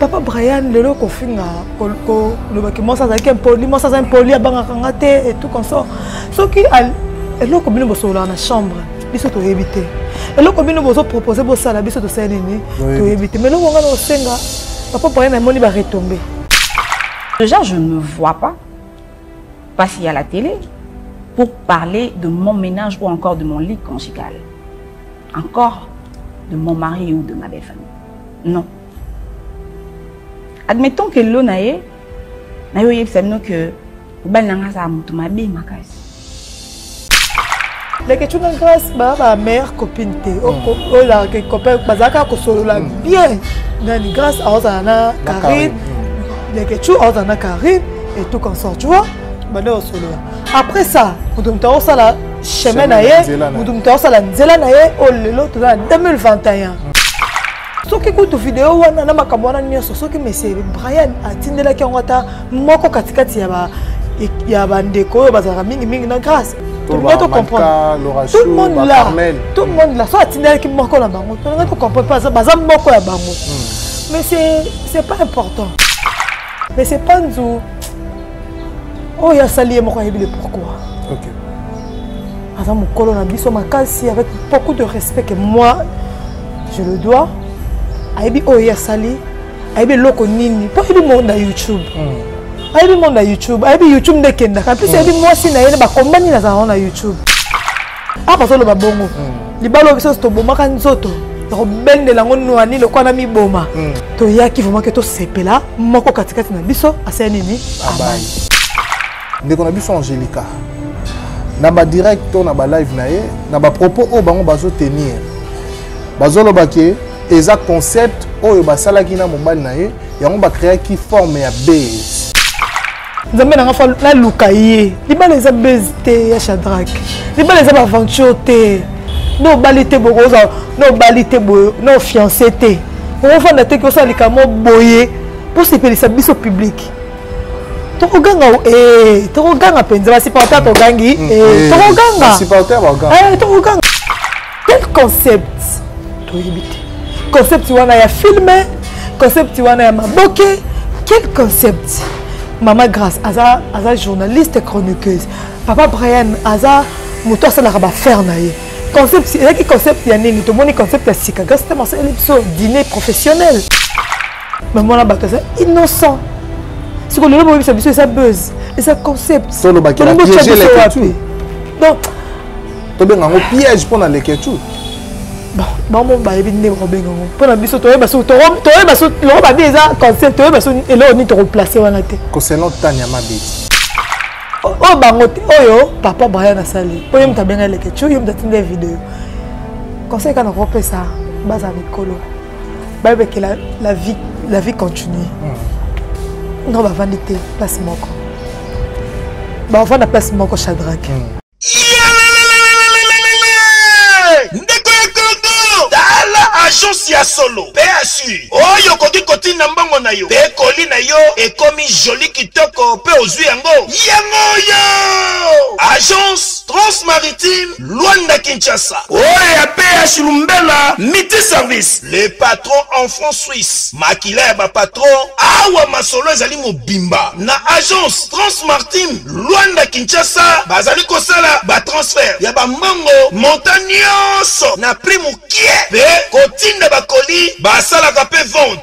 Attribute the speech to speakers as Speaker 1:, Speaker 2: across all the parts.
Speaker 1: papa brian lelo kofinga kolobaki mwasi azalaki impoli mwasi aza impoli abangaka nga te etout comme ça soki eloko bino bosololaka na chambre biso toyebi te eloko bino bozopropose bosala biso tosali nini toyebi te ma eloko nga na osenga papa brian amoni baretombe
Speaker 2: déjà je ne vois pas passer à la télé pour parler de mon ménage ou encore de mon lit conjugal encore de mon mari ou de ma belle famille non admettons que lo na ye naye oyebisa bino que mobali na ngai azala moto mabe makasi
Speaker 1: leketshou na grace baa ba mare copine te hmm. olaka copain bazalaka kosolola hmm. bien nani grace aozala na carine hmm. leketshou aozala na carine et tout consort tu vois bande osolola après ça moto moto akosala chemin na ye moto moto akosala nzela na ye oyo oh, lelo toza na 2021 soki kutu video wana na makambo wana nyonso soki monsieur brian atindelaki yango ata moko katikati ya ba ya bandeko oyo bazalaka mingimingi na grâce tout le monde comprendre tout le monde là tout le monde là so atindelaki moko na bango tolinga tocomprendre mpe baza moko ya bango hmm. mais c'est pas important mais c'est pas nzu oyo asali ye moko ayebi le pourquoi okay. aza mokolo na biso makasi avec beaucoup de respect que moi je le dois ayebi oyo ye asali ayebi eloko nini mpo ayebi monde ya youtube mm. ayebi monde ya youtube ayebi youtube nde ekendaka mpe ayebi hmm. mwasi na ye nde bakombani nazala ngo na youtube papa azoloba bongo hmm. libala oyo biso tobomaka nzoto ya kobendela yango nwani lokola na miboma hmm. toyaki vraimen ke tosepela moko katikati na biso asala nini abai ndeko
Speaker 3: na biso angelica na badirect to na balive na ye na bapropos oyo bango bazotenir bazoloba ke eza concept oyo basalaki na mobali na ye yango bakreaki forme ya base nzambe
Speaker 1: na nga fa naluka ye libala eza base te ya shadrake libala eza baaventure te no obali te boye okozala no obali te boye no ofiance te okofanda te kosala likambo boye mposepelisa biso publike tokoganga eh, tokoganga mpenza basupporter togangi mm, eh, eh, tokoganga
Speaker 3: tokoganga
Speaker 1: quel concept toyebi te concept wana ya filme concept wana ya maboke quel concept mama grace aza, aza journaliste chroniqueuse papa brian aza moto asalaka bafere na ye concept ezalaki concept ya nini tomoni concept ya sika grâce te masaleli biso dîner professionnel meme wana bato aza innocent siko lelo boyebisa biso eza buzz eza concept wapi
Speaker 3: donc tobenga yango piège mpo na leketshou
Speaker 1: bango bayebi ndenge bakobenga yango mpo na biso toyeba so toyeba so loko babi eza concept toyeba so eloko nini tokoplace wana te concernant tani ya mabeti oyo bango te oyo papa brian asali oyo ye moto abenga leketshou ye moto atinda video conseil kaka nakopesa baza mikolo bayebekela la vie, la vie continue mm. non bavandi te place moko bavanda place moko chadrake
Speaker 4: mm. agence ya solo mpe assure oyo okoki kotinda mbongo na yo mpe koli na yo ekomi joli kitoko mpe ozwi yango yango oyo agence transmaritime Luanda Kinshasa. Oyo ya PH Lumbela miti service. Le patron en franc suisse. Makila ya ba patron awa masolo ezali mobimba na agence Transmartin Luanda Kinshasa bazali kosala ba transfert ya ba mbongo montant nyonso na prix mokie pe kotinda ba colis basalaka pe vente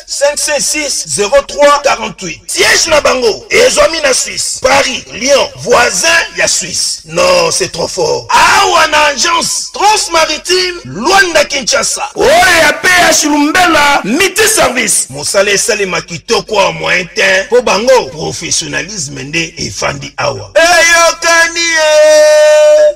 Speaker 4: 506 03 48 siège na bango ezwami na suisse paris lyon voisin ya suisse non c'est trop fort awa na agence transmaritime luanda kinshasa oyo ya ph lumbela miti service mosala esalema kitoko ya moyen te mpo bango professionnalisme nde efandi awa eyokani ye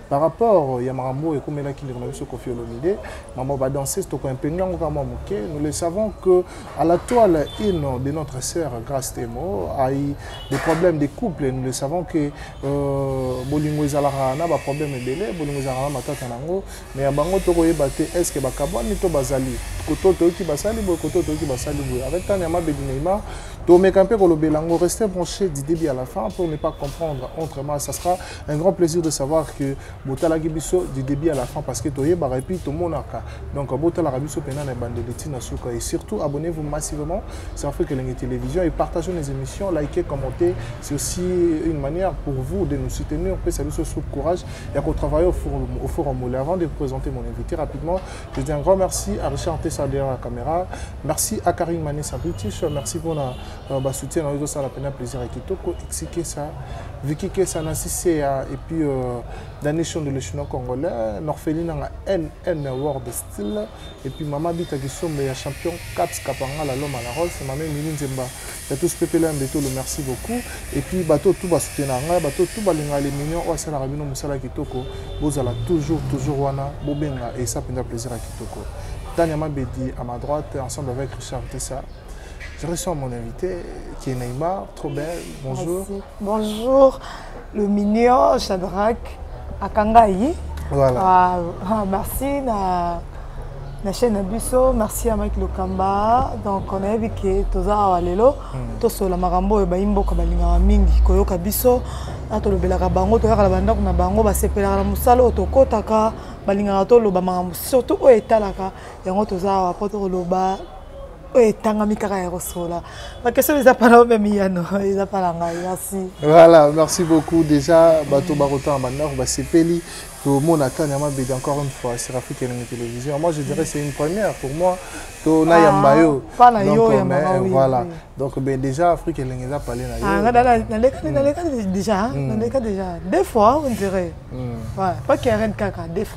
Speaker 3: par rapport ya makambo oyo ekomelaki ndeko na biso kofi olomide makambo badanseuse tokoimpenge yango kaka mwa moke nous le savons que à la toile une de notre sœur grace temo ai des problèmes de couple nous le savons que euh, bolingo ezalaka na baproblème ebele bolingo ezalaka na matata na yango mais ya bango tokoyeba te est ce que bakabwani to bazali koto toyoki basali boye koto toyoki basali boye avec tani ya mabedi neymar tomeka mpe kolobela yango reste branché du début à la fin pour ne pas comprendre autrement ça sera un grand plaisir de savoir que botalaki biso du début à la fin parce que toyebaka epuis tomonaka donc botalaka biso mpena na ebandeli ntina suka et surtout abonnez vous massivement sur afrique elenge télévision et partagez nos émissions likez commentez c'est aussi une manière pour vous de nous soutenir mpesa biso sous courage ya kotravaille au forum, au forum ole avant de présenter mon invité rapidement je dis un grand merci à richard tessa derrière la caméra merci à karine mané sabritish merci mpona Euh, ba soutien na yo ezosala mpena plaisir ya kitoko exi kesa viki kesa na siseya et puis euh, dani shondo le chinois congolais norfeli nanga nn word style et puis mama bita kisombe ya champion caps kapangala loma la rolf mama emili nzemba ya tous pepela mbetolo merci beaucoup et puis bato tu basoutenaka ngai bato tu balingaka leminion oyo asalaka bino mosala kitoko bozala toujours toujours wana bobenga esa mpenza plaisir ya kitoko tania mabedi à ma droite ensemble avec richard tessa Je reçois mon invité qui est Neymar, trop belle. Bonjour. Merci. Bonjour,
Speaker 1: le mignon Shadrach Akangaï. Voilà.
Speaker 3: Ah, ah, merci
Speaker 1: na, na chaîne Abisso, merci à Mike Lokamba. Donc on a vu que toza awa lelo, mm. to sola makambo oyo bayimbo ko balingaka mingi koyoka biso, na tolobelaka bango, toyaka na bandako na bango, basepelaka na mosala oyo tokotaka, balingaka toloba makambo surtout oyo etalaka yango toza awa mpo tokoloba oyo etangami kaka ya kosola bakestion eza mpana oyo meme yano eza mpana ngai merci voilà merci
Speaker 3: beaucoup déjà bato bakotanga bandako basepeli tomona ata nyama bedi encore une fois sur afrique elingi télévision moi je dirais c'est une première pour moi to ah, nayamba yo donc voilà donc ben déjà afrique elingi eza pale na yonalekani ah, hmm. déjà
Speaker 1: naleka hmm. déjà deux fois on dirait hmm. pas karen kaka deux fois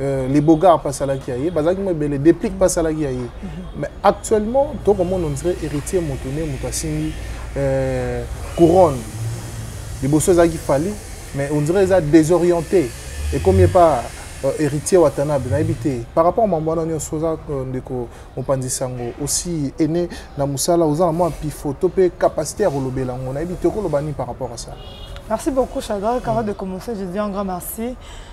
Speaker 3: Euh, les bogards basalaki ya ye bazalaki mo ebele déplique basalaki ya ye mais actuellement tokomona ondire héritier moto nde moto asimbi euh, couronne liboso ezalaki fali mais ondire eza désorienté ekomi epa euh, héritier watanabe nayebi te par rapport mambo wana nyonso oza ndeko mopanzi sango osi ene na mosala oza na mwa pifoto mpe capacité ya kolobela yango nayebi te okoloba nini par rapport à ça merci beaucoup
Speaker 1: chadra avant de commencer je dis un grand merci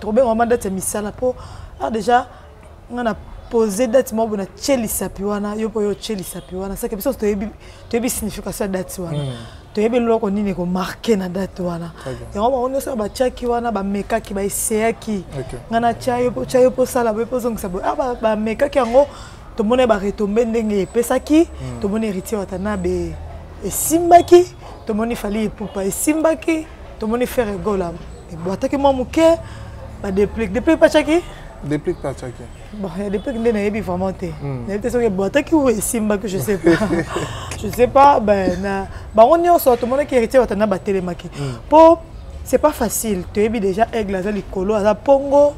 Speaker 1: Tokobenga wana date ya misala po ah déjà nga na pose date moko na tie lisapi wana yo mpo yo otie lisapi wana seke biso toyebi toyebi signification ya date wana mm. toyebi eloko nini ekomarke na date wana yango bango nyonso batiaki wana bamekaki baeseyaki nga na tia yo mpo tia yo mpo osala boye mpo ozongisa boye ah, bamekaki yango tomoni baretombe ndenge epesaki mm. tomoni héritier watanabe esimbaki tomoni fali epupa esimbaki tomoni ferre gola ebwataki mwa moke badeplique deplique pacaki deplique pacaki
Speaker 3: bon ya deplique nde
Speaker 1: nayebi vraiment te hmm. nayebi te soki ebwataki ou esimbaki je sais pas je sais pas ben na bango nyonso tomonaki héritier watana batelemaki mpo hmm. c'est pas facile toyebi déjà aigle aza likolo aza mpongo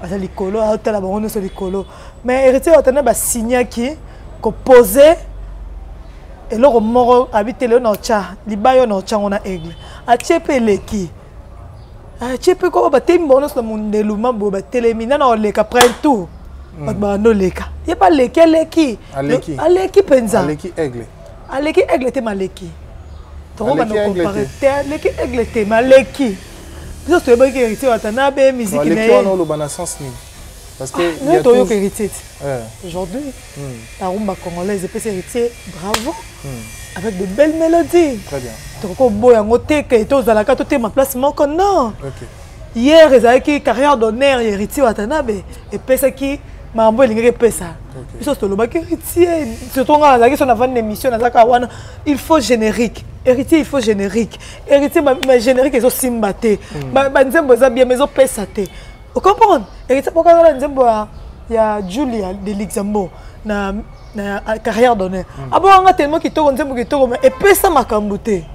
Speaker 1: aza likolo aotala bango nyonso likolo mais héritier watana ba signaki ko poser eloko moko abi te lelo na otya libaya oyo na otyango na aigle atye mpe eleki atye mpe koko batemi bango nyonso na mondelu maboye batelemi nana oleka prin tour hmm. bato babanda oleka ye mpe aleki aleki aleki mpenza aleki aigle
Speaker 3: aleki aigle te
Speaker 1: maleki tokobanda compare te aleki aigle te maleki biso toyebaki héritier watanabe miziki na ye
Speaker 3: Parce que ah, non, toyoka héritier
Speaker 1: ti eh. aujourd'hui hmm. la rumba congolaise epesi héritier bravo hmm. avec de belles mélodies très bien tokoki
Speaker 3: oboya yango
Speaker 1: te ke tozalaka totema place moko non hier ezalaki carrière d'honneur ya héritier watanabe epesaki makambo elingaki epesa biso tolobaki héritier surtout ngai nazalaki so navandi na émission nazalaka wana il faut générique héritier il faut générique héritier ma générique ezosimba te hmm. banzembo eza bien ma ezopesa te ocomprendre ekesa pokazala nzembo ya julia de luxembourg na na carrière d'honneur mm. abonganga tellement kitoko nzembo kitoko ma epesa makambo te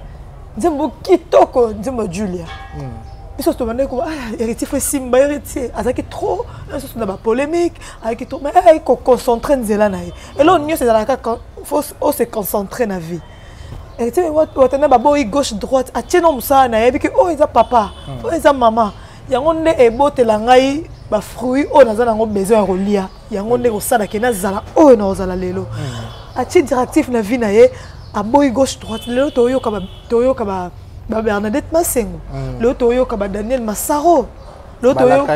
Speaker 1: nzembo kitoko nzembo julia mm. biso tobandaki koba ah, héritier fo esimba héritier azalaki trop lisusu na bapolémique azalaki trop mais ayaki koconcentre nzela na ye eloko nyonso ezalaka fo ose concentre na vie watana baboyi gauche droite atie no mosala na yebi ke oyo eza papa hmm. oyo eza mama yango nde ebotela ngai bafruit oyo naza nango besoin ya kolia yango nde kosala ke nazala oyo nakozala lelo hmm. atie directif na vie na ye aboyi gauche droite lelo toyoka babernadette masengo hmm. lelo toyoka badaniel masaro lelo toyoka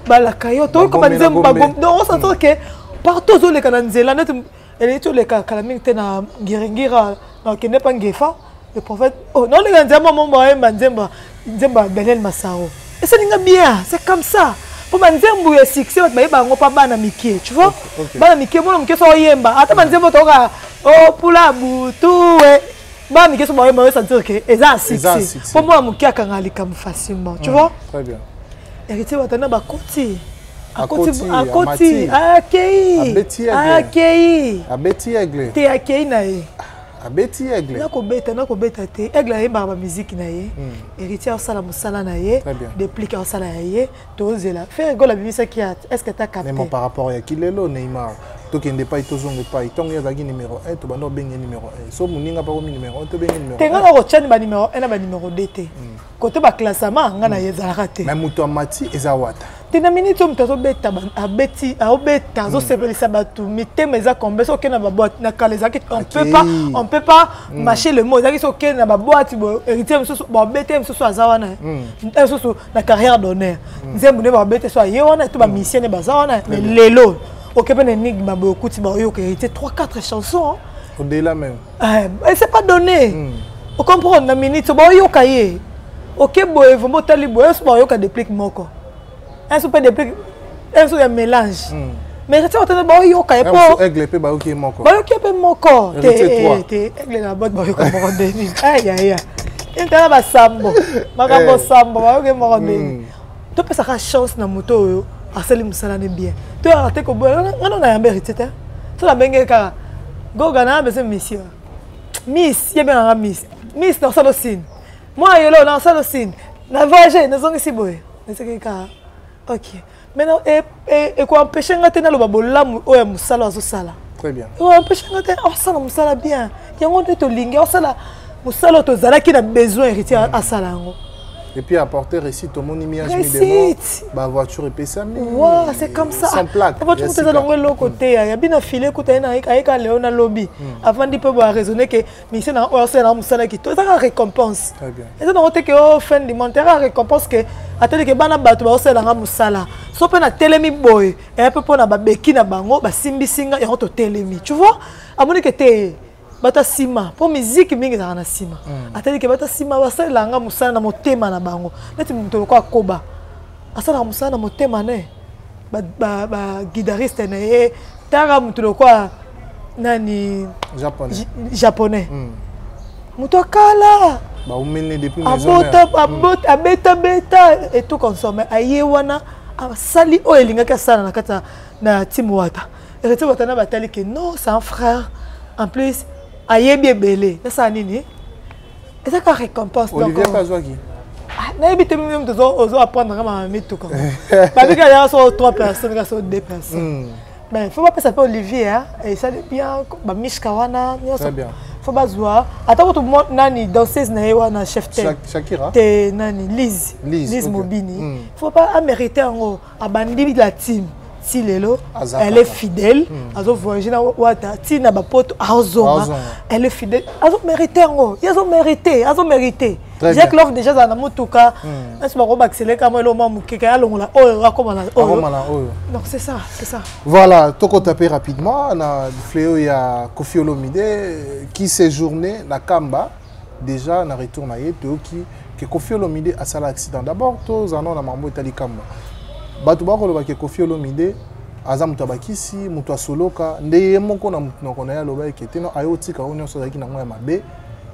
Speaker 1: balakayo toyoka banzembo bagomi donc osantoke partout ozoleka na nzela neti eleki toleka kala mingi te na ngiringira na okende mpa ngefa le prophète oh, naolinga nzembo ya mombo ayemba nzembo nzembo ya daniel masaro esalinga bien c'est comme ça mpo banzembo ya succès bato bayeba yango mpa bana mike tu vois bana mike mwana moke so oyemba ata banzembo toyoka opula oh, butu e bana mike so baoyo baosentir ke eza ya succès mpo mwana moke akanga likambo facilement tu mm, vois
Speaker 3: héritier watana
Speaker 1: bakoti
Speaker 3: akoti akei
Speaker 1: akei abeti aigle te
Speaker 3: akei na ye
Speaker 1: abeti aigle
Speaker 3: nakobeta nakobeta
Speaker 1: te aigle ayembaka bamiziki na ye héritier asala mosala na ye deplike asala ya ye tozela ferre gola abimisaki art est ce que ta capte mais par rapport ya kilelo
Speaker 3: neymar tokende epai tozonga epai ntango ye azalaki numero 1 tobanda obenge numero 1 so moninga mpe akomi numero 1 tobenge numero te nga nakotyani banumero
Speaker 1: 1 na banumero 2 te hmm. kote baklassama nga na ye hmm. ezalaka te mai moto amati eza
Speaker 3: wata te na miniti oyo moto
Speaker 1: azobeta abeti aobeta azosepelisa hmm. bato mitema eza kombe so okende na baboite na kala ezalaki on peut pas on peut pas marcher le mot ezalaki so okende na baboite héritier mosusu baobete mosusu aza wana mosusu na carrière d'honneur mm. nzembo nde babete so aye wana to bamisie nde baza wana mais lelo oke mpe na enigme boye okuti baoyo oke hérité 3 4 chansons au-delà même
Speaker 3: eh, c'est pas
Speaker 1: donné mm. ocomprendre na minute baoyoka ye oke boye vraimen otali boye so baoyoka déplique moko un so mpe déplique un truc ya mélange hmm. mais eza ntango tene baoyoka ye po aigle mpe bayoki ye moko
Speaker 3: bayoki ye mpe moko
Speaker 1: te eh, te aigle na bote bayoka moko nde nini ayaya entala basambo makambo eh. sambo bayoki ye moko nde nini hmm. topesaka chance na moto oyo asali mosala ne bien toyaka te koboya ngana na yamba héritier te tona benge kaka goga na bese monsieur miss ye bengaka miss miss na osala osini mwana yolo na osala osini na voyage nazongisi boye naseki kaka ok maintenant e, e, ekoempeshe nga te naloba bolamu oyo ya mosala azosala très bien ekoempeshe
Speaker 3: nga te
Speaker 1: asala mosala bien yango nde tolingi asala mosala oyo tozalaki na besoin héritier mm. asala yango et puis apporter
Speaker 3: récit tomoni miage midemo bavoiture epesami wa c'est comme ça
Speaker 1: sans plaque voiture moto eza
Speaker 3: nango eloko
Speaker 1: te ya bino file kuta ye ayeka leo na lobi mm. avandi mpe boaraisonne ke ministère na oyo asala na mosala kito ezaka récompense eza nango te
Speaker 3: ke o oh, fin
Speaker 1: du monde ezaka récompense ke atali ke bana bato baosalelanga mosala so mpe natelemi boye eya mpe mpo na babeki na bango basimbisi nga yango totelemi tu vois amoni ke te bato ya nsima mpo miziki mingi ezalaka na nsima hmm. atali ke bato ya nsima basalelanga mosala na motema na bango neti moto lokola koba asalaka mosala na motema ne baguidariste na ye tanga motu lokola nani japonais, japonais. Mm. moto akala
Speaker 3: abota abota mm. abeta
Speaker 1: beta et tout consomme aye wana asali oyo elingaki asala na kati na tim wata ereti wata na batali ke non c'est un frère en plus ayebi ebele nasala nini eza kaka récompense olivier mpe azwaki ah,
Speaker 3: nayebi te
Speaker 1: mimi moto ozo apprendre nga mama mituka babika yaka so trois personnes ka so deux personnes hmm. mais fo bapesa mpe olivier hein. esali bien bamishka wana nyonso fo
Speaker 3: bazwa
Speaker 1: ata kutu nani danseuse na ye wana chef te
Speaker 3: nani
Speaker 1: lise lise mobini hmm. fo pa amerite yango abandi la team ti lelo elle est fidèle hmm. azo voyage na wata ti na bapoto azonga elle est fidèle azo mérite yango ye azo mérite azo mérite jacques love déjà azala na motuka nasi bako baakisele kama elo mwa mokeke alongola oyo akoma na oyo donc c'est ça c'est ça voilà
Speaker 3: tokotape rapidement na fleo ya kofi olomide qui séjourne na kamba Deja na retour na ye toyoki ke Koffi Olomide asala accident. D'abord tozala nao na makambo etali Kamba. Bato bakoloba ke Koffi Olomide aza moto ya bakisi, moto ya soloka, nde ye moko na monoko na ye aloba eke te no aye otika oyo nyonso azalaki nango ya mabe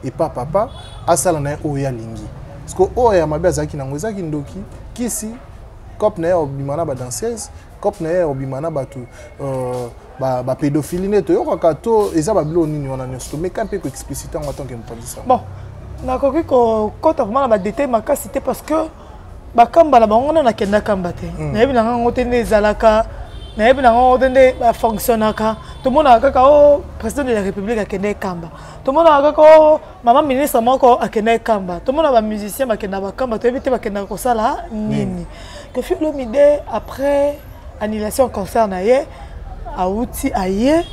Speaker 3: epa papa asala na ye oyo ye alingi. Siko oyo ya mabe azalaki nango ezalaki ndoki, kisi, cope na ye ya kobima na ba danseuse, cope na ye ya kobima na bato euh, ba, ba pédophilie nde toyokaka to eza babilo nini wana nyonso tomeka mpe koexplicite yango atanke mopanzisi yango bon
Speaker 1: nakoki kokɔta vraimen na badetail makasi te parce que bakamba na bango wana nakende akamba te hmm. nayebi na ngango te nde ezalaka nayebi na ngango te nde bafonctionnaka tomonaka kaka o oh, président de la république akende ekamba tomonaka kaka o oh, mama ministre moko akendaki kamba tomona bamusicien bakenda bakamba toyebi te bakendaka kosala nini kofi olomide après annulation concert na ye awuti aye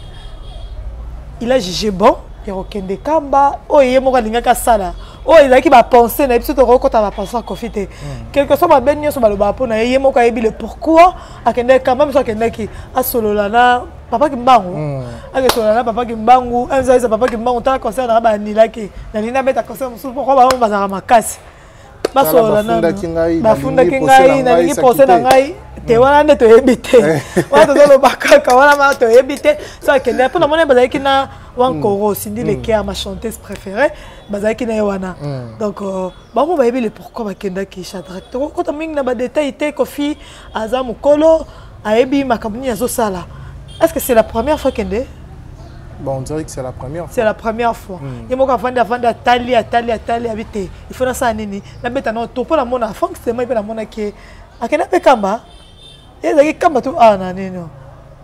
Speaker 1: il a jugé bon ya kokende kamba oyo ye moko alingaki asala oyo oh, ezalaki bapense na ye biso tokoki kota bapense ya kofi te hmm. quelque soit mabe nyonso balobaka mpo na ye ye moko ayebi le pourquoi akendaki kamba biso akendaki asolola na papa kimbangu mm. akesona na papa kimbangu azalisa papa kimbangu tala concert na banilaki nalingi abeta concert mosusu poko bango bazalaka makasi basolola nabafundaki ngai nalingi pose na ngai te mm. wana nde toyebi te eh. wana tozoloba kaka wana ma toyebi te so akende mpo namoni bazalaki na wankoro mm. sindi lekea ma chanteuse préférée bazalaki na ye wana donc euh, bango bayebi le pourquoi bakendaki chadrake tokokota mingi na badetail te kofi aza mokolo ayebi makambo nini azosala est ce que c'est la première fois kende Bon,
Speaker 3: on dirait que c'est la première fois. C'est la première fois.
Speaker 1: Mm. Yemoko avanda avanda atali atali atali abite. Il faut na sa nini? Na beta na topo na mona Frank c'est moi na mona ke akenda pe kamba. Ezaki kamba tu ah na nini?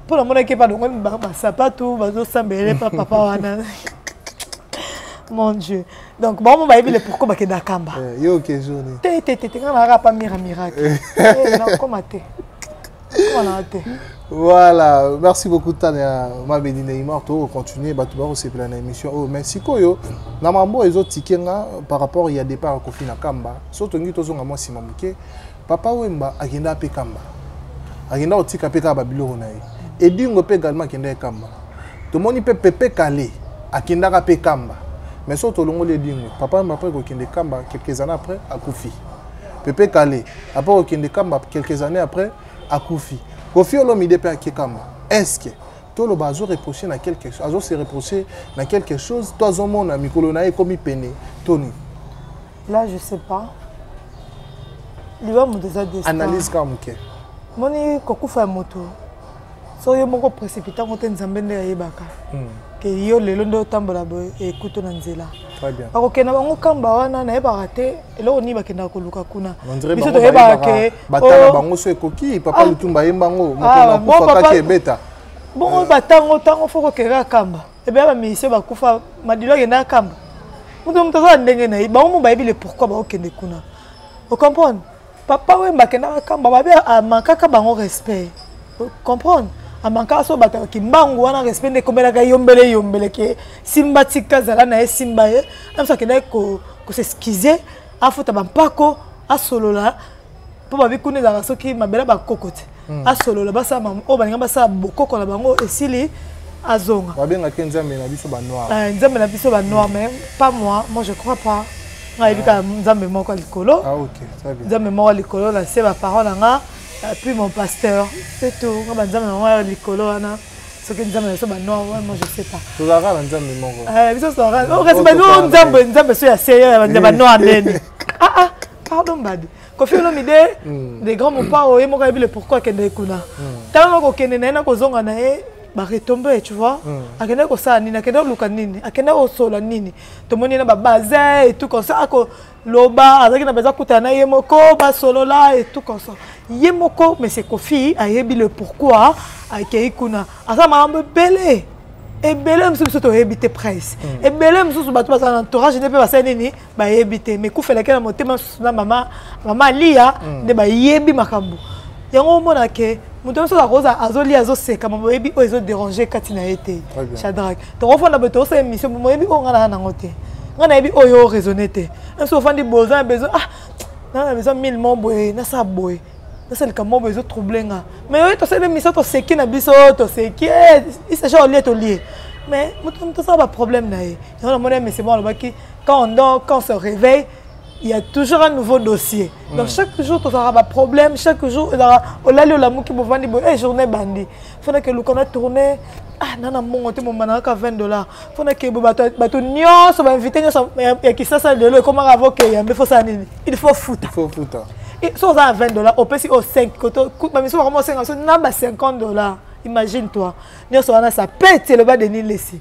Speaker 1: Pour na mona ke ba dongo ba sapatu ba zo sambele papa wana. Mon dieu. donc bango bayebi le pourquoi bakenda kamba eh, yo oke journée
Speaker 3: te te te te nga nayaka pa
Speaker 1: mira miracle eh. eh, nakoma te koma naa te
Speaker 3: voilà merci beaucoup tania mabedi neymar tokocontinue bato bakosepela na émission oyo oh, mais sikoyo na mambo ezotike nga par rapport ya départ ya kofi na kamba so tongi tozonga mwa nsima moke Papa Wemba akenda pe kamba. Akenda otika pe kaka ba biloko na ye. Edingo pe également akenda kamba. Tomoni pe Pepe Kale akendaka pe kamba. Mais so tolongoli Edingo, Papa Wemba après kokende kamba quelques années après akufi. Pepe Kale après kokende kamba quelques années après akufi. Kofi Olomide pe akie kamba. Est-ce que toloba azo reprocher na quelque chose, azo se reprocher na quelque chose, to azomona mikolo na ye ekomi pene, toni. là
Speaker 1: je sais
Speaker 3: pas
Speaker 1: liwa moto eza destin analyse kaka
Speaker 3: moke
Speaker 1: moni kokufa ya moto so yo moko précipita yango te nzambe nde ayebaka hmm. ke yo lelo nde otambola boye ekuto na nzela bakokenda
Speaker 3: bango kamba
Speaker 1: wana nayebaka te eloko nini bakendaka koluka kuna biso toyebaka
Speaker 3: ke batala oh. bango so ekoki papa ah. lutumba ayemba yango mokonakufa ah, kaki ebeta bongo eh. batango
Speaker 1: ntango fo kokeka kamba ebe ba musicien bakufa madilo akenda akamba moto moto aza na ndenge na ye bango mo bayebi le pourquoi baokende kuna ocomprendre papa wemba akendaka akamba babe amankaka bango respect ocomprendre amankaka so bato ya kimbangu wana respect nde ekomelaka eyombele eyombele ke simba tika zala na ye simba ye amso akendaki koseskize afuta bampako asolola mpo babi kuna ezalaka soki mabela bakoko te hmm. asolola basala oyo balinga basala bokoko na bango esili azonga babengaki nzambe
Speaker 3: na biso banoir eh, nzambe na biso banoir
Speaker 1: mais pas moi moi je crois pas ngai yebi kaka nzambe moko ya likolo ah, nzambe
Speaker 3: moko ya likolo na se
Speaker 1: baparent na nga puis mon pasteur se tout nga banzambe nango ya likolo wana soki nzambe na biso banoir wana je sais pas tozalaka na nzambe
Speaker 3: moko eh, biso tozalaka okasi
Speaker 1: oh, bano nzambe nzambe so ya seigneur ya banoir nene ah ah pardon mbadi kofi olomide hmm. de grand mopao ye moko ayebi le pourquoi akendeki kuna hmm. ntango na kokende na ye na kozonga na ye baretombe tu vois hmm. akendaki kosala nini akendaki koluka nini akendaki kosola nini tomoni na babasin etout comme ça akoloba azalaki na baza kutana na ye moko basolola etout comme ça ye moko monsieur kofi ayebi le pourquoi akei kuna aza makambo ebele ebele mosusu biso toyebi te price ebele mosusu bato bazala na entourage nde mpe basali nini bayebi te mais kufelaki na motema susu na mama mama aliya mm. nde bayebi makambo yango omona ke moto nyonso akoza azolia azoseka mama oyebi oyo ezoderange kati na ye te shadrake tokofanda boye tokosala émission moyebi oyo ngai naa nango te ngai nayebi oyo oraisonne te nso ofandi boza na besoin ah naa na besoin mille mo boye nasala boye nasala likambo boye ezotrouble nga mais oyo tosali émission toseki na biso toseki eh, isaja olie tolie mais moto tosala baproblème na ye yango namoni ya mese mo alobaki quand on dort quand on se réveille il y a toujours un nouveau dossier donc mm. chaque jour tozalaka baproblème chaque jour ezalaka olali olamuki bovandi boye e journée ebandi fona ke luka na tourne ah nana mbongo te mombana kaka 20 dollars fona ke bo bato nyonso bainvite nyonso ya kisasa lelo ekomaka avo ke yambe fosala nini il faut futa
Speaker 3: so oza na 20
Speaker 1: dollars opesi oyo 5 kote bamisu bakoma osenga biso na ba 50 dollars imagine toi nyonso wana sa pete eloba denis lesi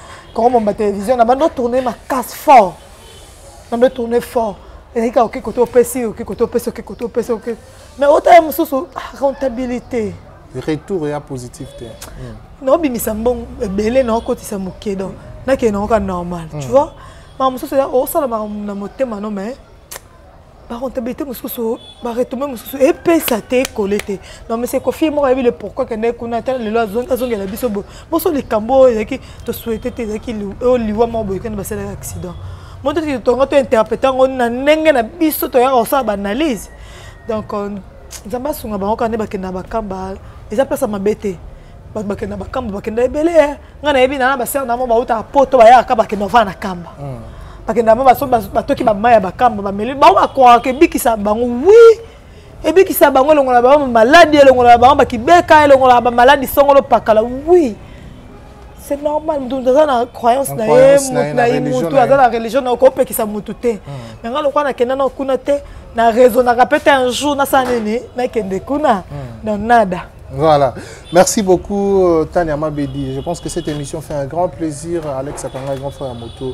Speaker 1: koko momba télévision na bando tourne makasi fort na bando tourne fort ezalaki kaka oke kote opesi oke kote opesi oke kote opesi oke mais otala mosusu ah, rentabilité retour
Speaker 3: ya positif te hmm. naobimisa
Speaker 1: mbongo ebele naokotisa moke donc nakende naoka normal tu hmm. vois makambo mosusu osala makambo na motema no mais barentabilité mosusu baretombe mosusu epesa te ekole te non mais sekofi moko ayebi le pourquoi kendeki kuna ata lelo azongela biso boye boso likambo oyo ezalaki tosouete te ezalaki oyo liwa moko boye kende basalaki accident moto ti tonga to interprete yango na ndenge na biso toyaka kosala baanalyse donc euh, nzambe asunga bango kaka nde bakenda bakamba eza place ya mabe te bato bakenda na bakamba bakenda ebele eh. ngai nayebi nana basere na mo bautaka poto bayaka bakenda ovaa na kamba hmm. bakenda mo batoki bamai ya bakamba bameli bango bakokaka ebikisa bango wi ebikisa bango elongola bango bamaladi elongola bango bakibeka elongola bamaladi songolo pakala wi c'est normal mutu aza na croyance na ye mutu na ye mutu aza na religion na okopekisa mutu te hmm. me ngai lokola nakenda na kuna te na raisonnaka mpe te un jour nasala nini nakende kuna hmm. donc nada Voilà.
Speaker 3: Merci beaucoup, euh, Tania Mabedi. Je pense que cette émission fait un grand plaisir. Alex Akanga, grand frère à moto.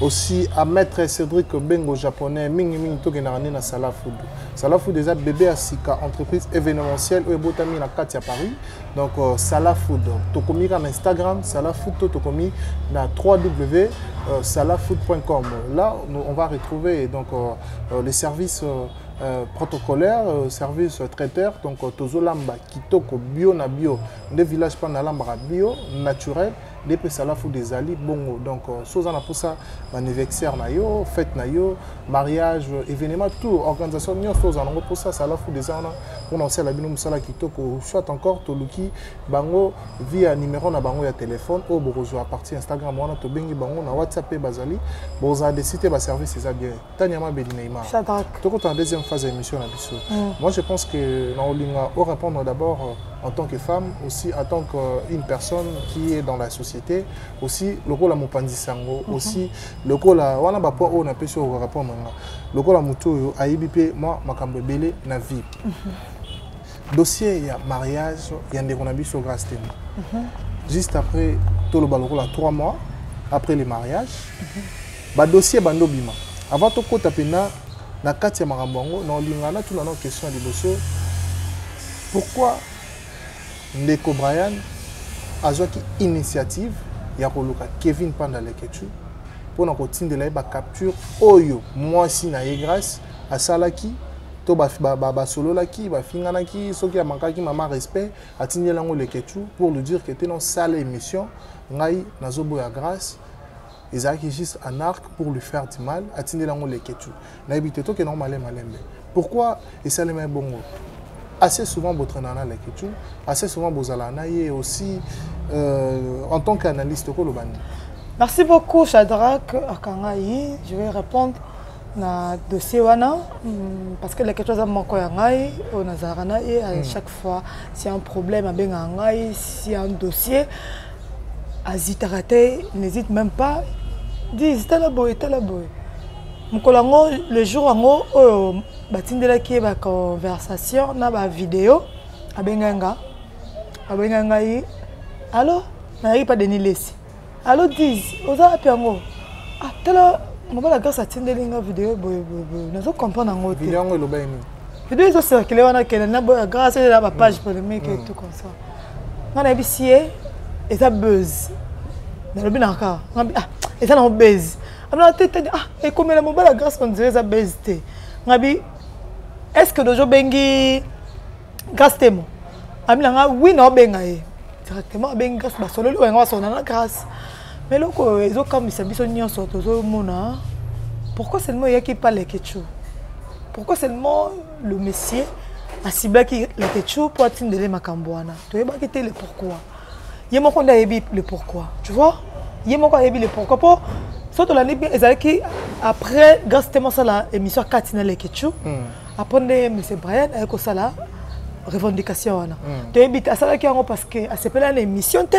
Speaker 3: Aussi à Maître Cédric Bengo, japonais. Mingi Mingi Toge Narani na Sala Food. Sala Food, déjà bébé à Sika, entreprise événementielle. Ou Ebotami na Katia Paris. Donc, euh, Sala Food. Tokomi na Instagram, Sala Food. Tokomi na www.salafood.com. Euh, Là, nous, on va retrouver donc, euh, euh les services. Euh, Euh, protocolaire euh, service euh, traiteur donc tozolamba kitoko bio na bio nde village mpo nalambaka bio naturel nde mpe salafude ezali bongo donc so oza na mposa baanniversaire na yo fete na yo mariage événement tout organisation nyonso oza nango mposa salafude eza wana mpona kosala bino mosala kitoko soit encore toluki bango via numero na bango ya telefone oyo bokozwa partie instagram wana tobengi bango na whatsapp mpe bazali bozala desite baservice eza bien Tania Mabedi Neymar. Shadrach. Toko ta deuxième phase d'émission la biso. Mm. Moi je pense que na olinga au répondre d'abord euh, en tant que femme aussi en tant qu'une euh, personne qui est dans la société aussi lokola mopanzi sango mm -hmm. aussi lokola wana ba poids oyo na pesi au répondre nga. Lokola mutu oyo ayibi pe moi makambo ebele na vie. Mm -hmm. dossier ya mariage ya ndeko na biso grace temo mm -hmm. juste après toloba lokola 3 mois après le mariage mm -hmm. badossier bando bima avant tokɔta mpena na kati ya makambo yango na olinga natuna na question ya liboso pourquoi ndeko brian azwaki initiative ya koluka kevin panda lekechu mpo na kotindela ye bacapture oyo mwasi na ye grace asalaki to basololaki ba, ba, ba bafinganaki soki amakaki mama respect atindeli yango leketchu pour lui dire que te non sale émission ngai nazoboya grâce ezalaki juste un arc pour lui faire du mal atindeli yango leketchu nayebi te tokende yango malembe malembe pourquoi esalema ebongo assez souvent botrainaka na leketchu assez souvent bozalaka na ye aussi euh, en tant qu'analyste okoloba nini merci beaucoup
Speaker 1: chadrack akangai je vais répondre na dossier wana mm, parce que leketwa aza moko ya ngai oyo nazalaka na ye à mm. chaque fois si un problème abengaka ngai si un dossier azitaka te n'hésite même pas dis tala boye tala boye mokolo yango le jour yango oyo batindelaki ye baconversation na bavideo abengai nga abengai ngai alo nayaki mpa denis lesi Allo Diz, oza wapi yango? Ah, tala mobala grâce atindeli nga video boye boye boye. Nazo comprendre yango te. Video yango eloba nini?
Speaker 3: Video ezo circuler
Speaker 1: wana kende na boya grâce eza ba page mm. polemique et mm. tout comme ça. Nga nayebisi ye eza buzz. Nalobi na ka. Nga ah, eza na buzz. Amna te te ah, ekomela mobala grâce on dirait eza buzz te. Nga bi est-ce que dojo bengi grace temo ami na nga wi na obenga ye directement abengi grace basololi oyo yanga basolola na grace ma eloko oyo ezokamwisa biso nyonso tozomona pourquoi seulement eyaki pa lekechou pourquoi seulement le messier asiblaki lekechou mpo atindele makambo wana toyebaki te le pourquoi ye moko nde ayebi le pourquoi tu vois ye moko ayebi le pourquoi mpo so tolandi bien ezalaki après grace temo asala émission kati na lekechou mm. après nde monsieur brian aye kosala revendication wana hmm. toyebi te asalaki yango parce que asepela na émission te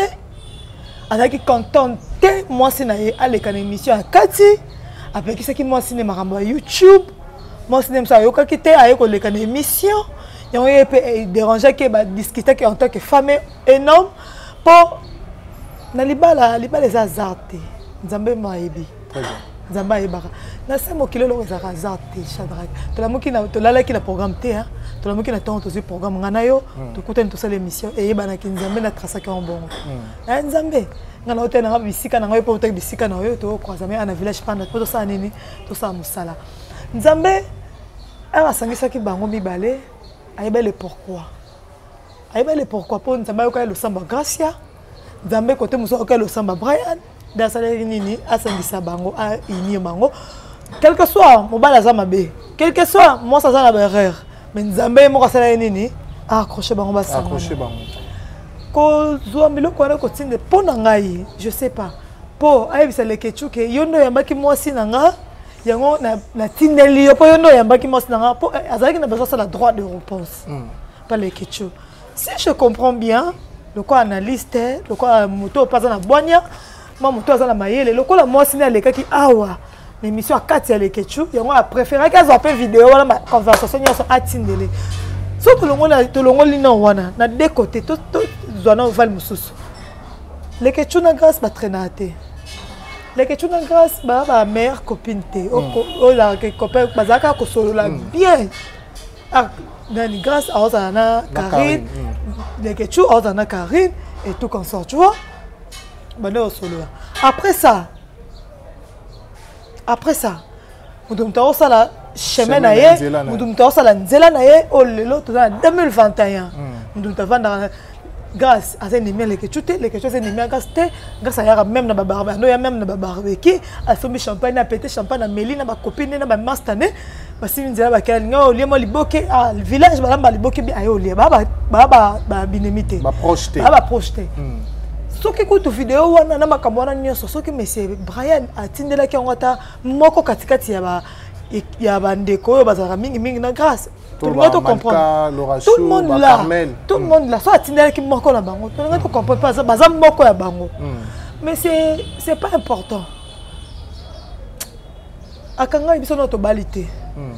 Speaker 1: azalaki contente te mwasi na ye aleka na émission ya kati apekisaki mwasi ne makambo ya youtube mwasi ne mosu ayokaki te aye koleka na émission yango ye mpe eh, dérangeaki ye badiscutaki en tant que femme et homme mpo na libala libala eza azar te nzambe mayebi nzambe
Speaker 3: ayebaka
Speaker 1: na se mokili eloko ezalaka hasard te chadrake tolamuki na tolalaki na programme te hein. tolamuki na ntango tozwi programme ngai na yo hmm. tokutani tosala émission eyebanaki nzambe na trasaki yango bongo hmm. eh, nzambe ngai na yo te nanga bisika na ngai mpe otaki bisika na yo tokroisame ana village panda mpo tosala nini tosala mosala nzambe awa asangisaki bango mibale ayebele pourquoi ayebele pourquoi mpo nzambe ayokaki losambo ya gracia nzambe kote mosusu akoki alosamba brian nde asalaki nini asangisa bango ainir bango quelque soit mobali aza mabe quelque soit mwasi aza na baerreur mais nzambe ye moko asalaki nini accroche bango basangana
Speaker 3: kozwa
Speaker 1: biloko wana kotinda mpo na ngai je sais pas mpo ayebisa lekecuke yo nde oyambaki mwasi na nga yango natindeli yo mpo yo nde oyambaki mwasi na nga mpo eh, azalaki na besoin asala droit de réponse hmm. pa lekecu si je comprends bien lokola analyste lokola moto oyo mpe aza na bwania ma moto aza na mayele lokola mwasi nde alekaki awa na émission ya kati ya lekechu yango apréféraki azwa mpe video wana baconversation nyonso atindele so tolongoli nao wana na de côté tozwa na ovale mosusu lekechu na grâce batrainaka te lekechu na grâce ba ba mère copine te hmm. oyo copain bazalaka kosolola hmm. bien ah nani grâce aozala na carine mm. lekechou aozala na carine et tout comme ça tu vois banda osolola après ça après ça moto moto akosala chemin na ye moto moto akosala nzela na ye oyo oh, lelo toza na 2021 moto moto avandaka Grace aza ennemi ya Leketshou te, Leketshou aza ennemi ya Grace te. Grace ayaka même na babarbecue, ando ya même na babarbecue, asombi champagne, apete champagne, ameli na bakopine na bamasta ne, basimbi nzela bakela alingi olie mwa liboke, ah, village balamba liboke bi aye olie, baa babinemi te, baa baproche
Speaker 3: te. Hmm.
Speaker 1: soki kutu video wana na makambo wana nyonso soki monsieur brian atindelaki yango ata moko katikati ya bandeko oyo bazalaka mingimingi na grâce tolinga to comprendre tout le monde là tout le monde là so atindaki moko na bango tolinga to comprendre mpe baza moko ya bango hmm. mais c'est c'est pas important akangaki biso nao tobali te hmm.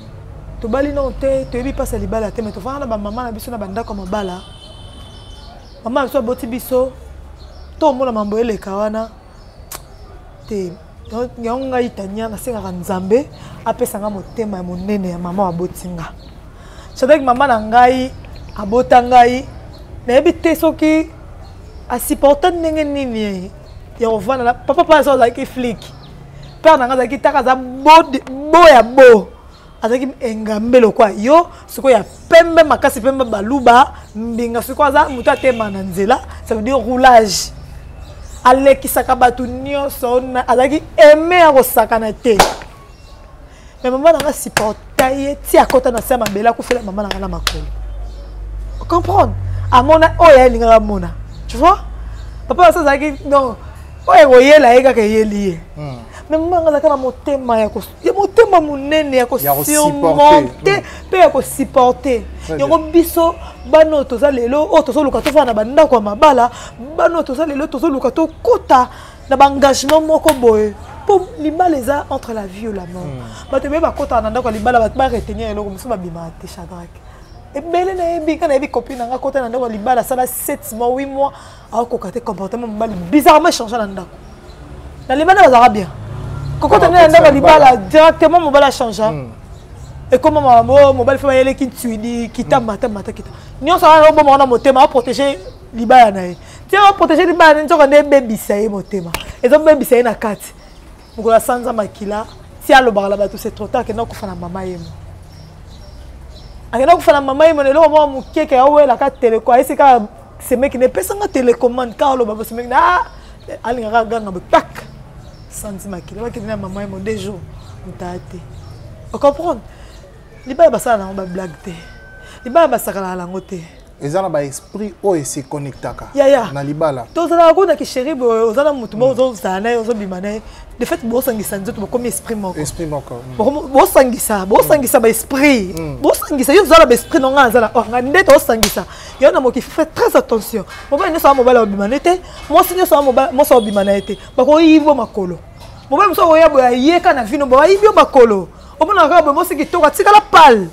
Speaker 1: tobali nao te toyebi mpasi ya libala te mais tofanda na bamama na biso na bandako ya mabala mama na biso aboti biso tomona mambo eleka wana te yango ngai tania nasengaka nzambe apesa ngai motema ya monene ya mama aboti nga sadaki mama na ngai abota ngai nayebi te soki asupporta ndenge nini ya kovanda na papa mpe aza azalaki flike père na ngai azalaki taka aza bo ya bo azalaki engambe lokwa yo sikoyo ya pembe makasi mpembe baluba mbinga sikoyo aza moto atema na nzela ça veut dire roulage alekisaka bato nyonso azalaki aime ya kosakana te me mama nanga supporta ye ti akɔta na se ya mabele akufela mama nanga na makolo comprendre amona oyo ye alingaka amona tu vois papa basi azalaki non oyo ekoyela ye kaka eyeli ye hmm. me mama nanga azalaka na motema ya ya motema monene ya kosurmonte mpe ya kosupporte yango biso bana oyo toza lelo oyo tozoluka tofana na bandako ya mabala bana oyo toza lelo tozoluka tokota na baengagement moko boye mpo libala eza entre la vie la mort hmm. bato ebele bakotaka na ndako ya libala bato baretenir eloko mosusu babimaka te chadrake ebele nayebi nga nayebi copine nanga kota na ndako ya libala asala 7 mois 8 mois akokoka te comportement mobali bizarrement echange na ndako na libanda bazalaka bien kokota nde na ndako ya libala directement mobali achangea hmm. ekoma mamo mobali fe bayeleki ntwidi kita hmm. mata mata kita nyonso wana oboma wana motema aprotege libala na ye ti aprotege libala na ye nzoka nde ebebisa ye motema ezobebisa ye na kati mokolo ya sanza makila ti alobaka na bato c'est trop tard akenda kokufa na mama yemo akenda kokufa na mama yemo na eloko moko mokeke awelaka teleko ayesi kaka semeki na epesanga telecommande kaka aloba bosemeki na ah, alingaka aganga boye pak sanzi makila bakende na mama yemo deux jours motaya te ocomprendre libala basala nango bablague te libala basakalaka nango te eza na ba esprit
Speaker 3: oyo ese connectaka yaya na libala tozalaka kuna kisheri
Speaker 1: boye oza na motu moko ozozala naye ozobima naye de fait bosangisa nzoto bokomi esprit moko esprit moko mm. bosangisa bosangisa mm. baesprit mm. bosangisa yo ozala baesprit nonga aza na or nga nde tosangisa yo na moki fe très attention mobali nyonso ya mobali abima na ye te mwasi nyonso ya mobali mwasi abima na ye te bakoyibo makolo mobali mosusu akoya boye ayeka na vino boye ayibi yo makolo omonaka kaka boye mosi kitoko atikala pale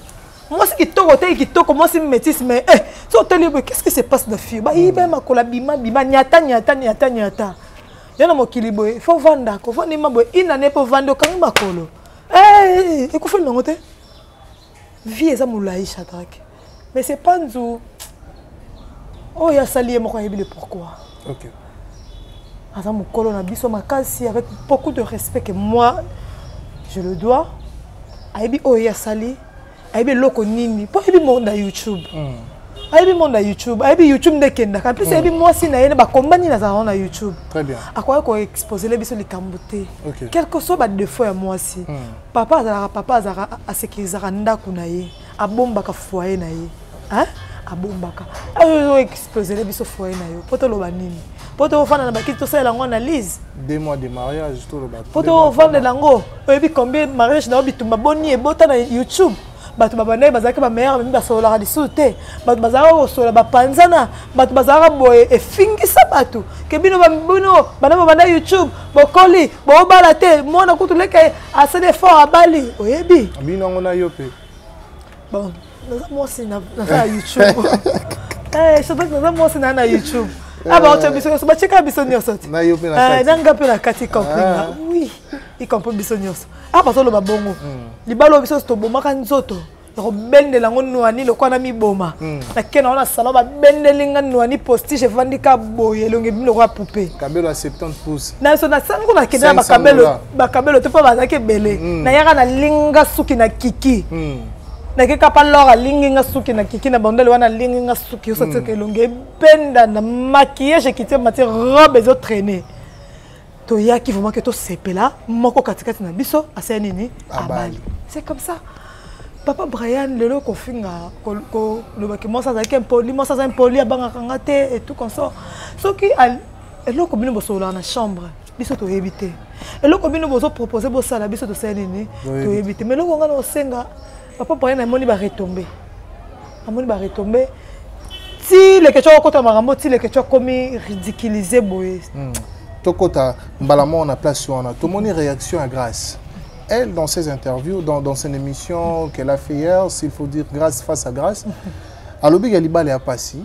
Speaker 1: mwasi kitoko te kitoko mwasi métisse mais eh so tali boye qu'est-ce qui se passe na fille ba yiba hmm. makola bima bima nyata nyata nyata nyata yo na mokili boye faut vanda ko vanda ma boye ina ne po vanda okangi makolo eh ekufa ndongo te vie eza molai chadrake mais c'est pas nzu oyo oh, asali ye moko ayebi le pourquoi
Speaker 3: okay.
Speaker 1: aza mokolo na biso makasi avec beaucoup de respect que moi je le dois ayebi oyo ye asali ayebi eloko nini mpo ayebi monde ya youtube mm. ayebi monde ya youtube ayebi youtube nde ekendaka plus mm. ayebi mwasi na ye na bakomba nini azalaka na youtube akoki
Speaker 3: koexposele
Speaker 1: biso likambo te quelque soit badefaut ya mwasi mm. papa azalaka papa azalaka asekirizaka ndako na ye abombaka foye na ye hein abombaka ayo explosele biso foyer na yo po toloba nini po tofanda na bakiti tosalela yango analyse deux mois de
Speaker 3: mariage toloba po tovandela yango
Speaker 1: oyebi combien mariage na yo bitumba boni ebota na youtube bato babandaki bazalaki bameilleur bami basololaka lisusu te bato bazalaka kosolola bapanzana bato bazalaka boye efingisa bato ke bino bino bana babanda youtube bokoli bobala te mwana kutu leke asali effort abali oyebi bino yango na yo mpe
Speaker 3: bon
Speaker 1: naza mwasi na youtube eh, shadrack naza mwasi na na youtube eh. abaoto biso nyonso batyeka biso nyonso te eh, na
Speaker 3: nga mpe na kati
Speaker 1: compringa wi ikampo biso nyonso a bazoloba bongo hmm. libala biso nyonso tobomaka nzoto ya kobendela yango nwani lokola na miboma hmm. nakenda wana salon babendeli nga nwani postige efandi ka boye elongi ebimi lokola poupe kabelo ya 70 pouce
Speaker 3: naso nasani ko nakende
Speaker 1: na bakabelo bakabelo te mpo bazalaki ebele hmm. nayaka nalinga suki na kiki nake kapa lor alingi nga suki na kiki na bandele wana alingi nga suki osatiaka mm. elongi ebenda na maquillage ekiti mati robe ezo traine toyaki vraiment ke tosepela moko katikati na biso asala nini abali c'est comme ça papa brian lelo kofinga kolobaki mwasi azalaki impoli mwasi aza impoli abangaka nga te et tout consort soki eloko bino bosololaka na chambre biso toyebi te eloko bino bozo propose bosala biso tosala nini toyebi te mais eloko ngai naosenga papa paye namoni baretombe namoni baretombe ti leke tyo akokota makambo ti leke tyo akomi ridiculise boye hmm. tokota
Speaker 3: mbala moko na place wana tomoni réaction ya grâce elle dans ses interviews dans, dans son émission qu'elle a fait hier s'il faut dire grâce face à grâce alobi ya libala ya pasi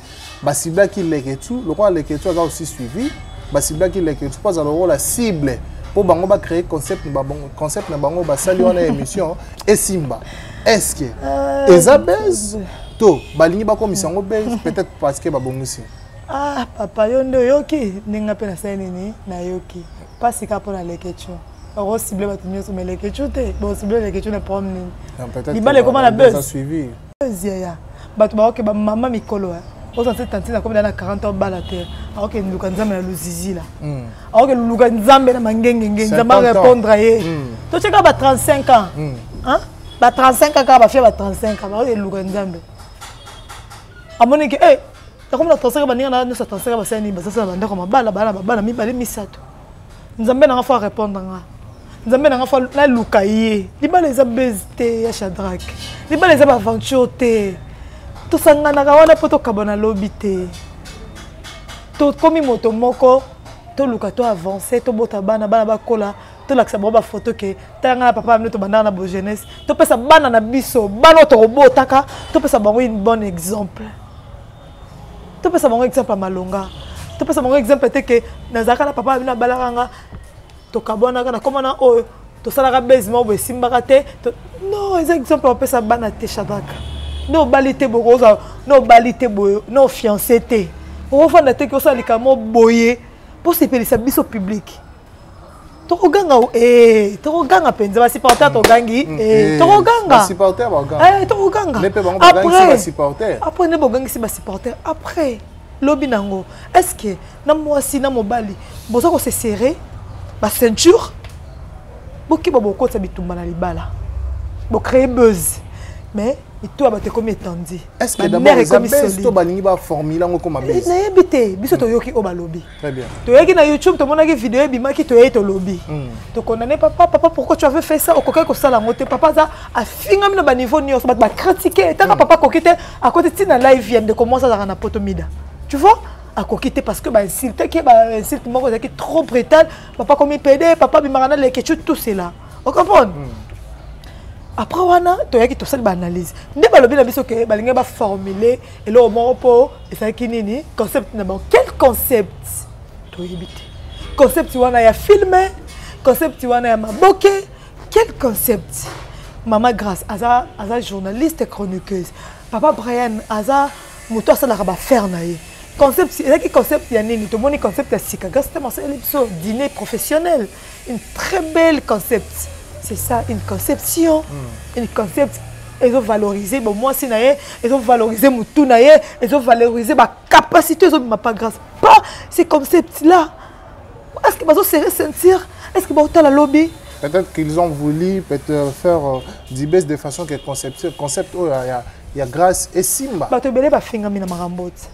Speaker 3: basiblaki leketu lokola leketu aza aussi suivi basiblaki leketu mpo azala lokola cible mpo bango bacree concept na bango concept na bango basali wana émission esimba est-ce que ah, eza base to balingi bakomisa yango base peut-être parce que babongisi ah papa
Speaker 1: yo nde oyoki ndenge mpe nasali nini nayoki mpasi kaka mpo na leketio okosible bato nyonso ma leketio te bosible leketio na problème nini libala ekoma na base Buzz
Speaker 3: yaya.
Speaker 1: Bato ba oke ba mama mikolo. Hein. oza se tantine akomi na 40 ans bala te aoke luka nzambe na luzizi la hmm. aoke luka nzambe na mangengenge nzambe arépondre ye hmm. totyeka ba 35 ans hmm. ba 35 ans kaka bafia ba 35 ans baoke luka nzambe amoni ke eh, akomi na 35 baninga na nyonso 35 basala nini basasala bandako mabala bana babana mibale misato nzambe nanga fo arépondre nga nzambe nanga fo naluka ye libala eza base te ya shadrack libala eza baaventure te tosanganaka wana mpo tokabana lobi te tokomi moto moko toluka to avance tobota bana bana bakola tolakisa bango bafoto ke tala ngai na papa bino tobandaka na bojeunesse topesa bana na biso bana oyo tokobotaka topesa bango une bonne exemple topesa bango exemple ya malonga topesa bango exemple te ke nazalaka na papa na bino abalaka nga tokabwanaka na komana oyo tosalaka base moko boye esimbaka te non eza exemple bapesa bana te shadraka nde obali te boye oza na obali te boye na ofiance te okofanda te ke osala likambo boye mpo osepelisa biso publike tokoganga eh, tokoganga mpenza basupporter togangi mm, eh, eh, tokoganga
Speaker 3: tokoganga
Speaker 1: après
Speaker 3: nde bogangisi
Speaker 1: basupporter après lobi na yango est ce que na mwasi na mobali boza kose serre baceinture bokeba bokotisa bitumba na libala bocree buzz mais mito ya bato ekomi etandi
Speaker 3: nayebi te biso toyoki
Speaker 1: oyo balobi Très bien. toyaki na
Speaker 3: youtube tomonaki
Speaker 1: video ebimaki toyei tolobi mm. tokondane papa papa pourquoi tu avais fait ça okokaki kosala yango te papa aza afingami na baniveau nyonso bato bakritike etaka mm. papa akoki te akoti ti na live ya ndeko mwasi azalaka na poto mida tu vois akoki te parce que bainsultaki bainsulte moko ezalaki trop brutal papa komi pede papa bimaka na lekecu tout cela ocomprendre mm. après wana toyaki tosali baanalyse nde balobi na biso ke balingi baformule eloko moko mpo ezalaki nini concept na bango quel concept toyebi te concept wana ya filme concept wana ya maboke quel concept mama grace aza, aza journaliste chroniqueuse papa brian aza moto asalaka bafere na ye concept ezalaki concept ya nini tomoni concept ya sika grâce te masaleli biso dîner professionnel une très belle concept c'est ça une conception mm. une concept ezovalorize bomwasi na ye ezovalorize motu na ye ezovalorize bacapacité ezobima pas grâce pas ces concepts là est ce que bazosere sentir est ce que baotala lobi peut-être qu'ils ont
Speaker 3: voulu peut-être faire euh, dibes de façon que concept, concept oyo oh, ya, ya grâce esimba bato ebele bafingami na
Speaker 1: makambo ti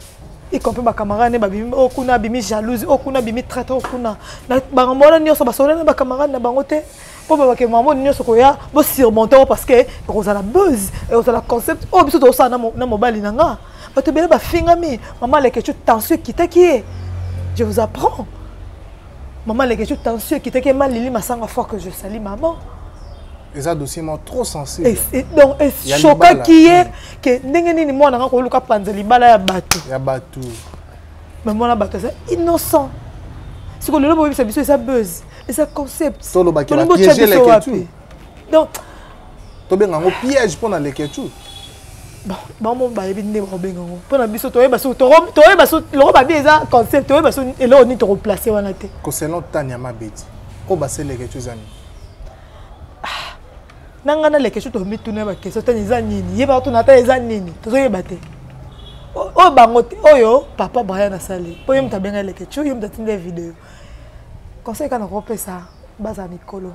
Speaker 1: y compris bacamarade ne babimi oyo oh, kuna abimi jalouse oyo oh, kuna abimi traite oyo oh, kuna bangambo wana nyonso basolola na bacamarade na bango te mpo babake mambo nyonso koya bosurmonte yango parce que ekozala buzz ekozala concept oyo biso tozosala na mobali na nga bato ebele bafingami mama lekechu tension ekitaki ye je vous apprends mama lekechu tension ekitaki ye malili masanga fort que je sali maman eza
Speaker 3: dossier moko trop sensible donc
Speaker 1: eshokaki ye ke ndenge nini mwana nga koluka panza libala ya bato ya bato
Speaker 3: me
Speaker 1: mwana bato aza innocent siko lelo boyebisa biso eza buzz eza concept tolobakibotya
Speaker 3: biso wapi donc tobenga yango piège mpo na leketshou
Speaker 1: bango bayebi nde bakobenga yango mpo na biso toyeba so toyeba so loko babi eza concept toyeba so eloko nini tokoplace wana te koselon tania
Speaker 3: mabeti oyo baseleketshou eza nini
Speaker 1: na ngai na lekesho tomituna ba question tani eza nini yeba tuna ata eza nini tozoyeba te oyo bango te oyo papa brian asali mpo ye moto abenga lekesho ye moto atinda ye video conseil kaka nakopesa baza mikolo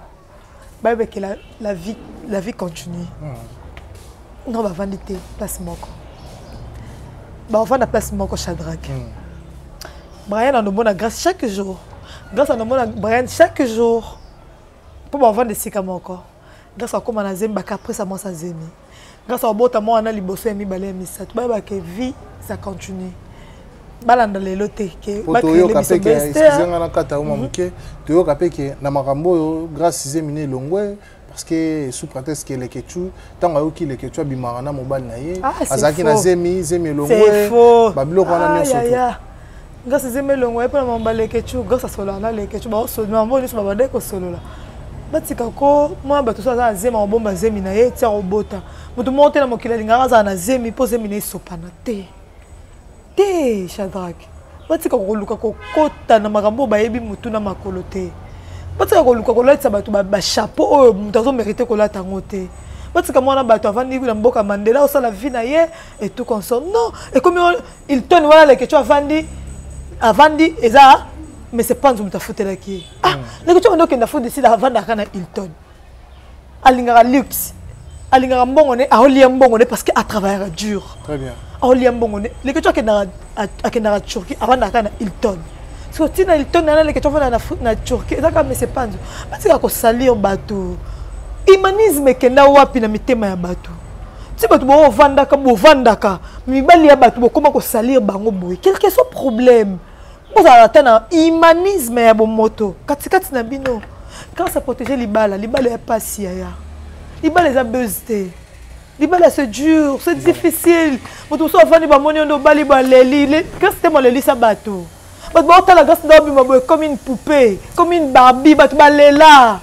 Speaker 1: bayebeke la, la vie, la vie continue mm. no bavandi te place moko bavanda place moko chadrake mm. brian anomona grâce chaque jour grâce anomona brian chaque jour mpo bavanda esika moko grâce akóma na zemi bacaprice ya mwasi ya zemi grâce abota mwa wana liboso ya mibale ya misato bayeba ke vie ça continue balanda lelo te toyoka mpe ke
Speaker 3: excuse nga nakata yo mwa mhm. moke toyoka mpe ke na makambo oyo grâce zemi na elongwe parce que sous prétexte que Leketchou tant que qui Leketchou abimaka na mobali na ye ah, azalaki na zemi zemi elongwe babiloko wana nyonso grâce
Speaker 1: ezemba elongo ye mpo na mamba lekechou grâce asololaka na lekechou baosolmambo nyonso babandaki kosolola batika ko mwa bato so aza na zemi akobomba zemi na ye ti akobota moto moko te na mokili alingaka azala na zemi mpo zemi na ye esopana te te shadrake batika koluka kokota na makambo oyo bayebi motu na makolo te batika koluka kolatisa bato bachapeau oyo moto azomerite kolata yango te batika mwana bato avandi na mboka mandela osala vie na ye etout consort non ekomi Hilton wana Leketshou avandi avandi eza mais c'est pas nzumta afutelaki ye ah mm. Leketshou wana okenda fo décide avandaka na Hilton alingaka luxe alingaka mbongo ne aolia mbongo ne parce que atravaillaka dur très bien aolia
Speaker 3: mbongo ne
Speaker 1: Leketshou akendaka akendaka Turquie avandaka na Hilton so ntina Hilton na Leketshou avanda na Turquie eza kaka mais c'est pas nzu batika kosalir bato humanisme ekenda wapi na mitema ya bato ti bato bovandaka bovandaka mibali ya bato bokoma kosalir bango boye quelque soit problème bozala ata na humanisme ya bomoto katikati na bino grâce à protéger libala libala ya pasi yaya libala eza buzz te libala c'est dur c'est difficile moto mosusu afandi bamoni yo nde obali baleli grâce te molelisa bato bato baotala grâce nde obima boye comme une poupée comme une barbie bato balela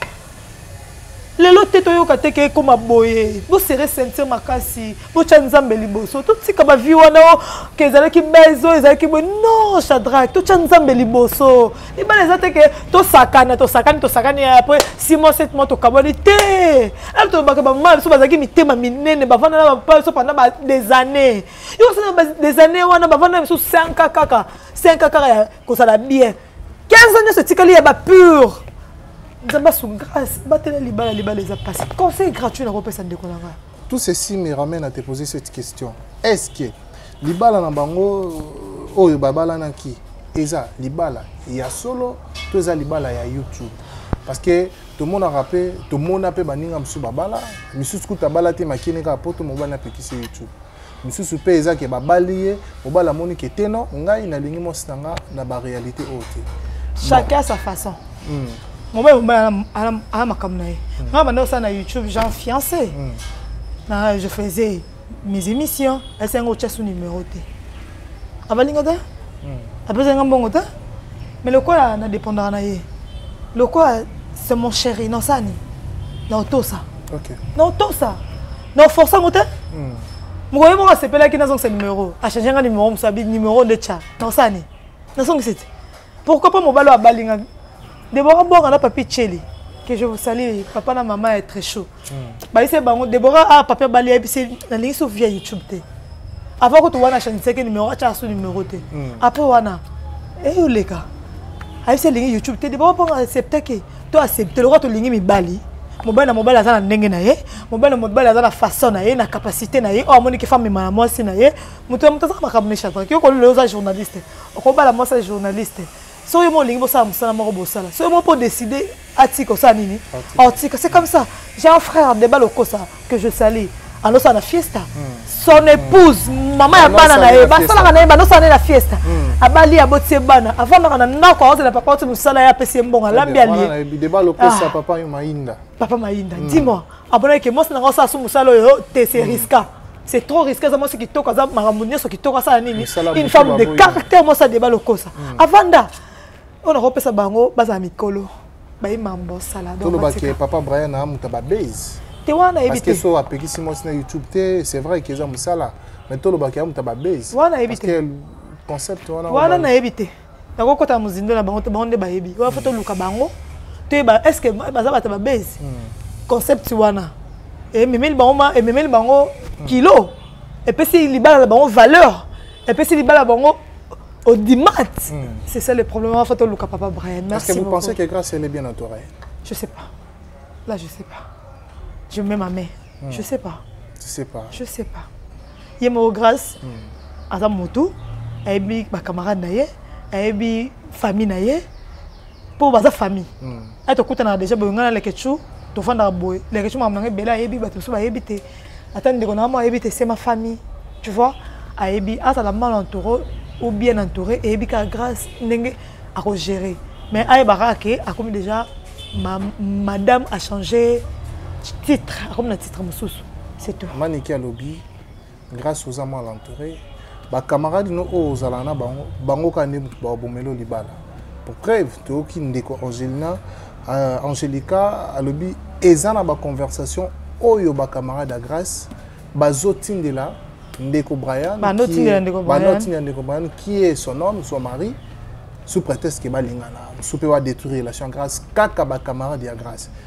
Speaker 1: lelo te toyoka te ke ekoma boye bosere ceinture makasi botya nzambe liboso totika bavie wana o ke ezalaki base oyo ezalaki boye non chadrak totya nzambe liboso libala eza te ke tosakana tosakani tosakani apres six mois sept mois tokabwani te alo tolobaka bamama biso bazalaki mitema minene bavanda na bapaa biso pendant des années yo osala na des années wana bavanda biso 5 kaka 5 kaka ya kosala bien 15 ans nyonso etikali ya bapure nzambe asu grâce batela libala libala eza mpasi conseil gratuit nakopesa ndeko na ngai tout
Speaker 3: ceci me ramène à te poser cette question est ce que libala na bango euh, oyo babalanaki eza libala ya solo to eza libala ya youtube parce que tomonaka mpe tomona mpe baninga mosusu babala misusu kutu abala te makini kaka poto mobali apekisi youtube misusu mpe eza ke babali ye mobali amoni ke te non ngai nalingi mwasi na nga na baréalité oyo te chacun bon. sa
Speaker 1: façon mm. mobali mobali ala makambo na ye hmm. ngai banda osala na youtube jean fiancé mm. na je faisais mes émissions asi yango otya so numéro te abalinga te hmm. apesa nga mbongo te mais lokola na dépendaka na ye lokola c'est mon chéri nosani na otosa okay. na otosa non force yango te hmm. mokoye moko asepelaki nazongisa numero achange nga numero mosa bi numero nde tya naosani nazongisi te pourquoi pas mobali oyo abali nga debora bonga na papi cheli que je vous salue papa na mama ya très chaud hmm. bayise bango debora a ah, papi abali ayebisi nalingi so via youtube te avant kutu wana achangisaki numero atyaka so numero te hmm. après wana eyoleka ayebisi alingi youtube te debora bonga acceptaki to accepte lokola tolingi mibali mobali na mobali aza na ndenge na ye mobali na mobali aza na façon na ye na capacité na ye oyo amoniki femme mema na mwasi na ye moto ya moto azaka makambo mechataki yo kolelo oza journaliste okobala mwasi ya journaliste soki yo mo olingi bosala mosala moko bosala soki yo moko mpo décide atika osala nini otika c'est comme ça j'ai un frère deba lokosa que je salue alosala na fiesta hmm. son épouse hmm. mama ya bana na ye basalaka na ye banosala na ye na fiesta hmm. abali aboti ye bana avandaka na ndako aozela papa oti mosala ye apesi ye mbongo alambi aliyepapa
Speaker 3: ah. mainda dis-moi
Speaker 1: abonaki ke mwasi na ngai osala so mosala oyo te se riska c'est trop risqué aza mwasi kitoko aza makambo nyonso kitoko asala nini une femme de caractère mwasi adeba lokosa avanda oyo nakopesa bango bazala mikolo bayi mambo saladolobaki papa
Speaker 3: brian amuta babase te wana yebi te so apekisi mwasi na youtube te c'est vrai keza mosala mais tolobaki amuta babase wana yebi te concept wana wana nayebi te
Speaker 1: nakokota mozindo na bango te bango nde bayebi wana fo toluka bango toyeba est ce que baza bato babase hmm. concept wana ememeli bango ememeli bango hmm. kilo epesi libala na bango valeur epesi libala bango audimat hmm. c'est ça le problème en fait oluka papa Brian merci est-ce que vous beaucoup. pensez que grâce elle
Speaker 3: est bien entourée je sais pas
Speaker 1: là je sais pas je mets ma main hmm. je sais pas tu sais pas je sais pas ye moko grâce hmm. aza motu ayebi bacamarade na ye ayebi famille na ye mpo baza famille hmm. ati tokutanaka déjà boye ngai na lekechou tofandaka boye lekechou makambo nanga ebele ayebi bato mosusu bayebi te ata ndeko na mama ayebi te se ma famille tu vois ayebi azala mal entouré ou bien entouré eyebi kaka grâce ndenge akogérer mais ayebaka ake akomi déjà ma, madame a changé titre akomi na titre mosusu c'est tout maniki alobi
Speaker 3: Grace oza mal entouré. Ba camarades no oyo ozalaka na bango, bango kaka nde moto babomeli yo libala. Pour preuve, toyoki ndeko Angelina, euh, Angelica alobi eza na ba conversation oyo ba camarades ya Grace bazotindela ndeko Brian, banotindela ndeko Brian, banotindela ndeko Brian qui est son homme, son mari sous prétexte que balingana, sous pe ba détruire relation grâce kaka ba camarades ya grâce.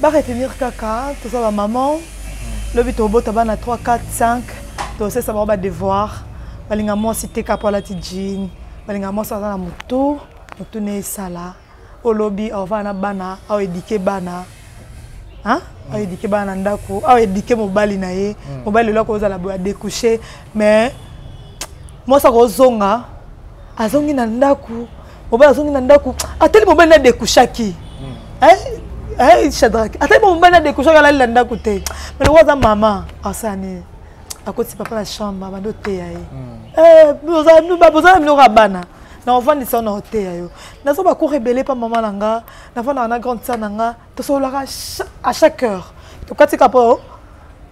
Speaker 1: ba retenir kaka toza ba maman lobi tobota bana 3 4 5 tosesa bango ba devoir balinga mwasi te kapo alati jean balinga mwasi aza na motu motu na esala olobi aovana na bana aoedike bana hein? aoedike bana na ndako aoedike mobali na ye hmm. mobali lelo akozala boye adecouche mais mwasi akozonga azongi na ndako mobali azongi na ndako atali mobali na dekushaki hmm. shadrake atali mobali na dekushaki alali na ndako te me lokola aza mama asani akotisi papa na chambre abandi oteya ye hmm. eh, boza na minoko ya bana na ofandisa yo na oteya yo naza bakour ebele mpa mama na nga nafandaka na grande sa na nga tosololaka à chaque heure tokatika mpo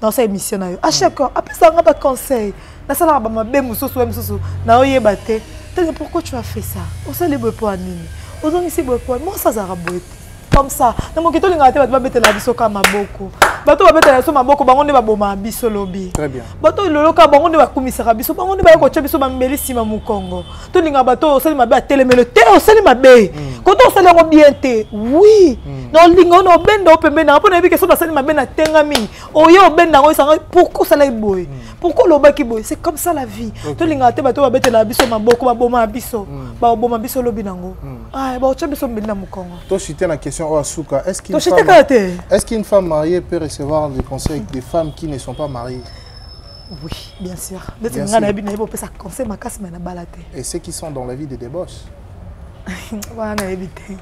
Speaker 1: nasa émission na yo à chaque heure apesaka nga baconseil nasalaka bamabe mosusu ya mosusu naoyeba te tete pourquoi tu as fait ça osali boye mpo ya nini ozongisi boye mpo mwasi azalaka boye te comme ça na moki tolingaka te bato babetela biso ka maboko bato babetela biso maboko bango nde babomaka biso lobi bato
Speaker 3: loloka bango nde
Speaker 1: bakumisaka biso bango nde baye kotya biso bambeli nsima mokongo tolingaka bato oyo osali mabe atelemelo te osali mabe mm. kote osali yango bien te wi mm. na olinga ona obenda o pembeni nanga mpo nayebi ke soki basali mabe na tenga mingi oye obenda yango esanga pourkui osalaki boye mm. pourkui olobaki boye c'est comme ça la vie tolingaka te bato babetelaka biso maboko babomaka biso baboma biso lobi nango ah, baotya biso mbeli na mokongo toshite na question oyo
Speaker 3: asuka toshite kaka te est ce qu'une femme mariée peut recevoir des conseils des femmes qui ne sont pas mariées Oui,
Speaker 1: bien sûr. Mais tu n'as pas de ça conseil ma casse mais na
Speaker 3: balate. Et ceux qui sont dans la vie de débauche. voilà, na évité.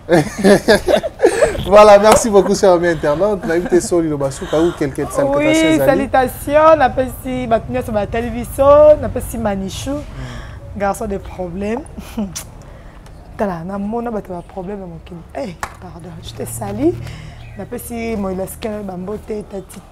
Speaker 3: voilà, merci beaucoup cher ami internaute. Na évité soli le basuka ou quelqu'un de salutations. Oui, salutations,
Speaker 1: na pesi batnya sur la télévision, na pesi manichou. Hmm. Garçon des problèmes. Tala, na mona bato ba problème mon kin. Eh, pardon, je te salue. Na pesi moilaske bambote tati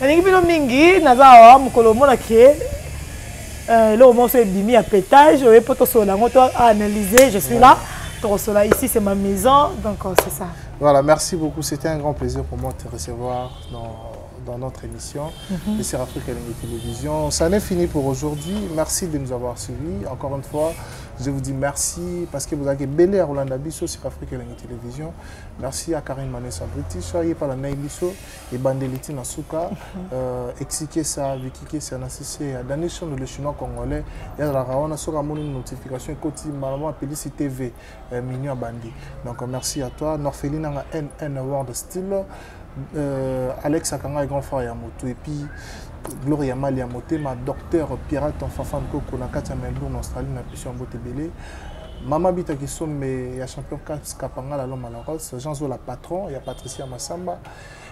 Speaker 1: nalingi bino mingi naza awa mokolo omona ke euh, eloko moko so ebimi ya petage oye mpo tosolola yango to analyse je suis là tokosola ici c'est ma maison donc euh, c'est ça voilà
Speaker 3: merci beaucoup c'était un grand plaisir pour moi de te recevoir dans dans notre émission mm -hmm. sur Afrique Lingue Télévision. Ça n'est fini pour aujourd'hui. Merci de nous avoir suivis. Encore une fois, je vous dis merci parce que vous avez belé à Roland Abisso sur Afrique Lingue Télévision. Merci à Karine Manessa British, soyez pas la Naïbisso. ebandeli ti na suka euh, exikesa vikikesa na sisia dani shondo le chinois congolais yazalaka wana soki amoni notification ekoti malama apelisi tv euh, mignon abandi donc merci à toi norfeli nanga nn world style euh, alex akanga grand frère ya moto epuis gloria mali ya motema docteur pirate enfafan koko na kati ya melbourne australie na biso ya mbote ebele Mama Bita Kisombe, il y a champion Kaps Kapangala Loma Laros, Jean Zola patron, il y a Patricia Massamba,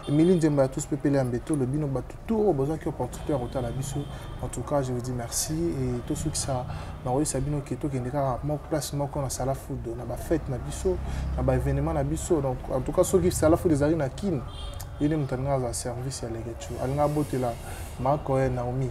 Speaker 3: Emily Nzemba ya tous pepele ya mbeto le bino bato tout oyo bozwaki opportunité ya kotala biso en tout cas je vous dis merci et tosukisa na koyebisa bino ke tokende kaka moko place moko na sala food na bafete na biso na baévénement na biso donc en tout cas soki sala food ezali na kin ye nde moto alingaka azala service ya legetu alingaka abotela makoye naomi